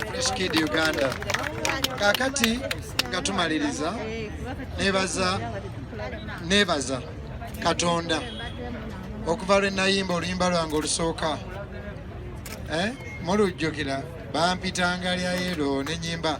Fresh Kid Uganda. Kakati nga tumaliriza nebaza nebaza Katonda okuva lwe nayimba oluyimba lwange olusooka eh? mulujjukira bampitanga lya yero nenyimba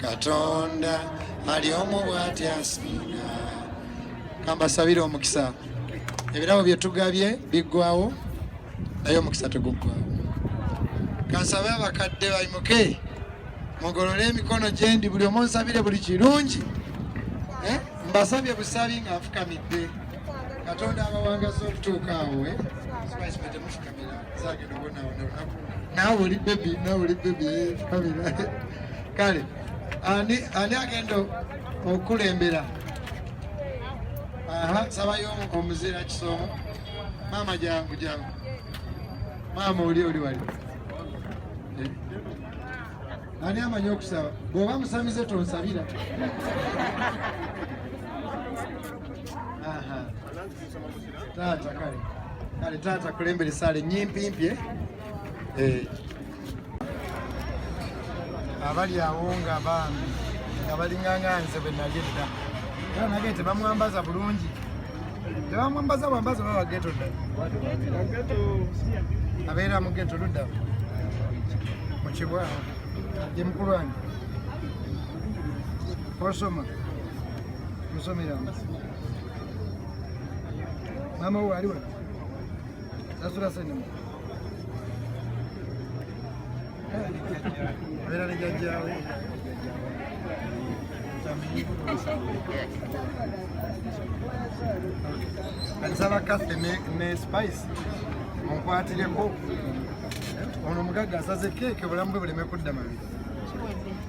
katonda ali omu bwati asinga kambasabire omukisa ebirabo byetugabye biggwawo naye omukisa teguggwawo kansabe abakadde bayimuke mugolole emikono gyendi buli omu nsabire buli kirungi eh? mbasabye busabi nga nfukamidde katonda abawangaza okutuuka awo eh? nawe oli bebi nawe oli bebi kabira eh, kale ani ani agenda okulembera aha sabayo omuzira kisomo maama jangu jangu maama oli oli wali eh. ani amanyi okusaba bwoba musamize tonsabira aha taata kale kale taata kulembera esaala ennyimpimpye eh. abali awo nga bambi nga balinganga nze bwe nali edda era nage tebamwambaza bulungi tebamwambaza bwambaza oba bageto dda abeera mu geto ludda mu kibwawo ye mukulu wange osoma musomeramu Mama huyu aliwa. Sasa sasa ni. Mira ni jaja. Alisaba kafe ne ne spice. Mkwatire ko. Ono mugagga asaze keke bulamu bwe buleme kudda mabiri.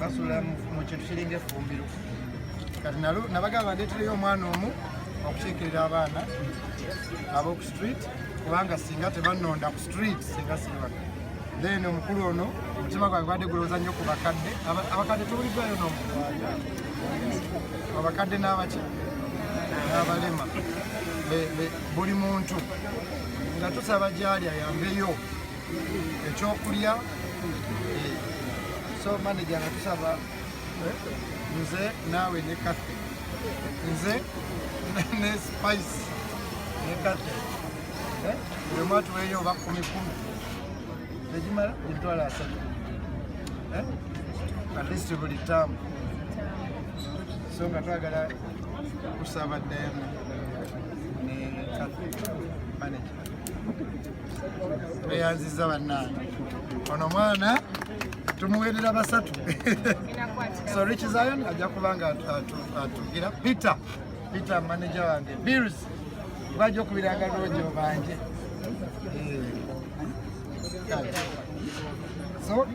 basula mu kintu kiringa effumbiro kati nalo nabagamba ndeetereyo omwana omu okukiikirira abaana ab'oku street kubanga singa tebanonda ku street singa sibaka then omukulu ono omutima gwange gwade gulowooza nnyo ku bakadde abakadde tubuliddwayo nomu abakadde n'abaki n'abalema buli muntu nga tusaba gyali ayambeyo ekyokulya eh, so manager nga tusaba eh, nze naawe ne kathe nze ne spice ne kathe eh, buli omu atuweeyo oba kumi kumi egimala emitwalo asatu at least buli taamu so nga twagala kusaba dayana ne kathe manager tweyanziza bannange ono mwana tumuwerera basatu so rich zion ajja kuba nga atugira peter peter manager wange bills bajja okubiranga lwojo banje eh. so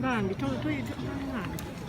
bambi toyita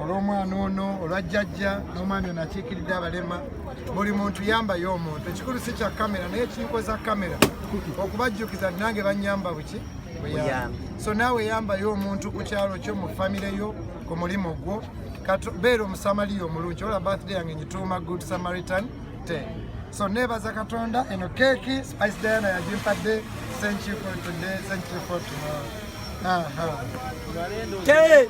olw'omwana ono olwa jjajja n'omwami ono akiikiridde abalema buli muntu yambayo omuntu ekikulu si kya kamera naye kinkoza kamera okubajjukiza nange banyamba buki buyambi so naawe yambayo omuntu ku kyalo kyo mu famire yo ku mulimu gwo beera omusamaliya omulungi ola birthday yange nyituuma good samaritan te so nebaza katonda eno keeki spice diana yagimpadde thank you for today thank you for tomorrow uh -huh.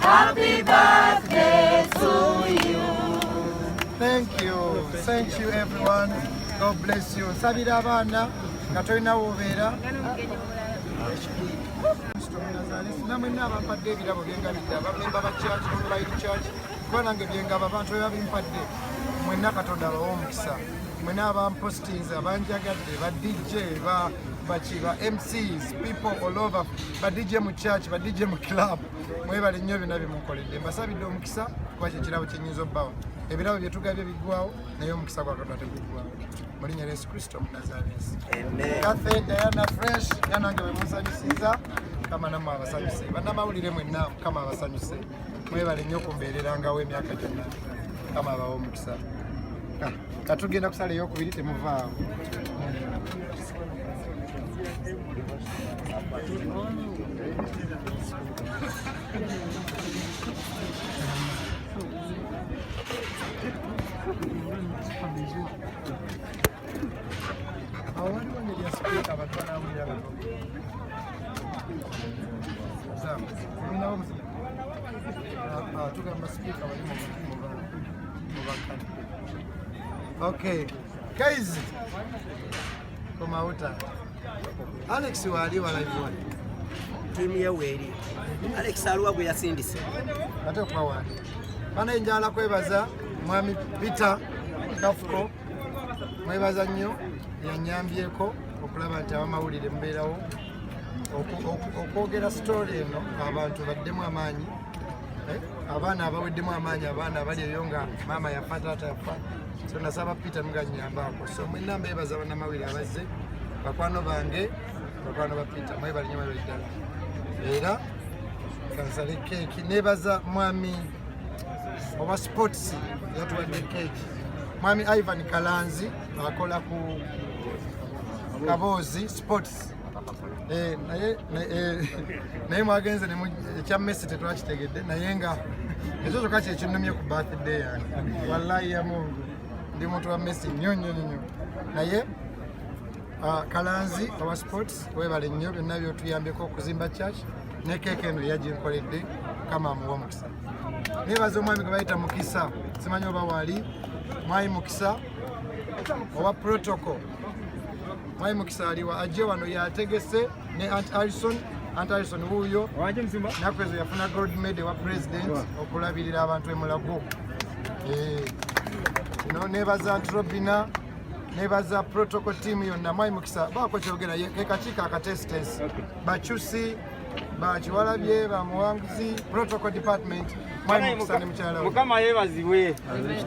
Happy birthday to you. Thank you. Thank you everyone. God bless you. Sabira abana nga tolina wobeera namwe nabampadde ebirabo byengabidde abamemba ba church online church kuba nange byengaba abantu bebabimpadde mwenna katonda abawa omukisa mwena abampostinze abanjagadde ba dj ba baki ba MCs people all over ba DJ mu church ba DJ mu club mwebale nnyo byonna byemukoledde mbasabidde omukisa kuba kyekirabo kyenyinza obbawa ebirabo byetugabye biggwawo naye omukisa gwa katonda teguggwawo mu linnya lya yesu kristo omunazaresi kathe diana fresh yanange wemusanyusiza mukama namwe abasanyuse bannamawulire mwenna mukama abasanyuse mwebale nnyo kumbeererangawo emyaka gyonna kama abawo omukisa ah, katugenda kusala eyokubiri temuvaawo awaliwo ne lyasikuka abatwala awulira bano Okay. Guys. Come out. Alex wali wala iwali. Timu ya weli. Alex aluwa gwe yasindise. Ate kwa wali. Bana njala kwebaza mwami Peter Kafuko. Mwebaza nnyo yanyambyeko okulaba nti abamawulire mubeerawo okwogera sitole eno abantu baddemu amaanyi eh, abaana abaweddemu amaanyi abaana abali eyo nga maama yafa taata yafa so nasaba peter muganyambaako so mwena mbeebaza banamawire abazze bakwano bange bakwano ba peter mwebalinyo mwebali ddala era kansale keeki nebaza mwami owa sports yatuwadde keeki mwami ivan kalanzi akola ku kaboozi sports eh, naye eh, mwagenze ekya messi tetwakitegedde naye nga ekyo kyokka kyekinnumye ku birthday yange wallahi ya mungu ndi muntu wa messi nnyo nnyo nnyo naye ah, kalanzi owa sports webale nnyo byonna byotuyambeko okuzimba church ne keeka eno yaginkoledde kama amuwa omukisa nebaza omwami gwe bayita mukisa simanyi oba wali mwami mukisa owa protocol Mwai Mukisa aliwa ajje wano yategese ne Aunt Alison Aunt Alison wuuyo naku ezo yafuna gold medal wa president okulabirira abantu emulago eh, no nebaza Aunt Robina nebaza protocol team yonna Mwai Mukisa baako kyogera kekakiiko akatesitesi bacusi bakiwalabye bamuwanguzi protocol department mukama yebazibwe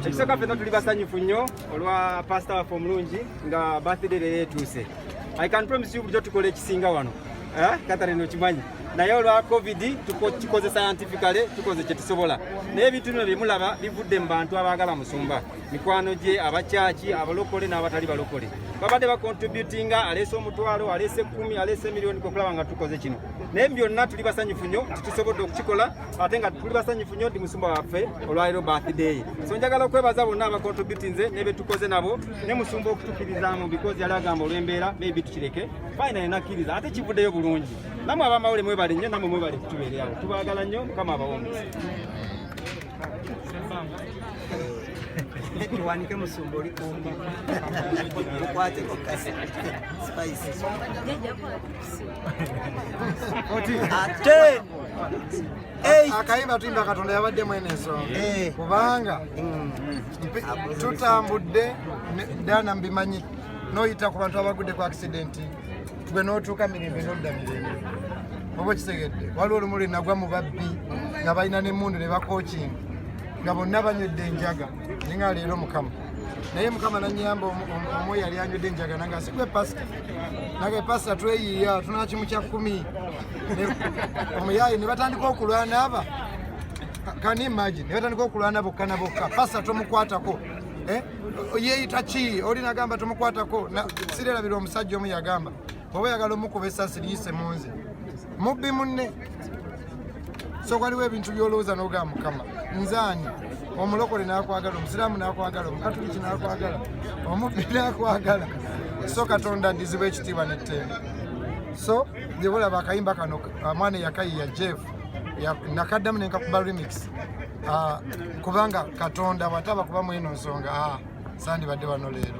ekisooka fena tuli basanyufu nnyo olwa pasita waffe omulungi nga birthday leero etuuse i can promise you bulijjo tukola ekisinga wano eh, katharine okimanyi naye olwa covid tukikoze scientifically tukoze kyetusobola naye ebintu bino byemulaba bivudde mu bantu abaagala musumba mikwano gye abakyaki abalokole n'abatali balokole babadde bakontributinga aleese omutwalo aleese ekkumi aleese emiliyoni kwekulaba nga tukoze kino naye byonna tuli basanyufu nnyo nti tusobodde okukikola ate nga tuli basanyufu nnyo nti musumba waffe olwaliro birthday so njagala okwebaza bonna abakontributinze nebetukoze nabo ne musumba okutukirizaamu because yali agamba olw'embeera maybe tukireke fina yenakkiriza ate kivuddeyo bulungi namwe abamawule mwebale nnyo namwe mwebale kutubeereawo tubaagala nnyo mukama abawombi tuwanike musumba oli kumbi tukwate kokasi spices akayimba tuyimba katonda yabadde mwene ensonga eh. kubanga mm. tutambudde dana mbimanyi noyita ku bantu abagudde ku accidenti tube n'otuuka mirembe n'odda mirembe oba okitegedde waliwo olumu lwe nagwa mu babbi nga balina n'emmundu ne bakookinga nga bonna banywedde enjaga naye nga leero mukama naye mukama nanyamba omu yali anywedde enjaga nanga sigwe pasita nage pasita tweyiiya tunakimu kya kkumi omuyaayi ne batandika okulwana aba kani imagine ne batandika okulwana bokka na bokka pasita tomukwatako eh? yeeyita ki oli nagamba tomukwatako sirerabira omusajja omu yagamba oba yagala omukuba esasi liyise munze mubbi munne so waliwo ebintu byolowooza nogaa mukama nzaani omulokole nakwagala omusiraamu nakwagala omukatuliki nakwagala omubbi nakwagala so katonda ndizibwa ekitiibwa nettendo so jebulaba akayimba kano mwana eyakayiya jeff nakaddamu nenkakuba remix ah, kubanga katonda wataba kuba mweno nsonga ah, sandibadde wano leero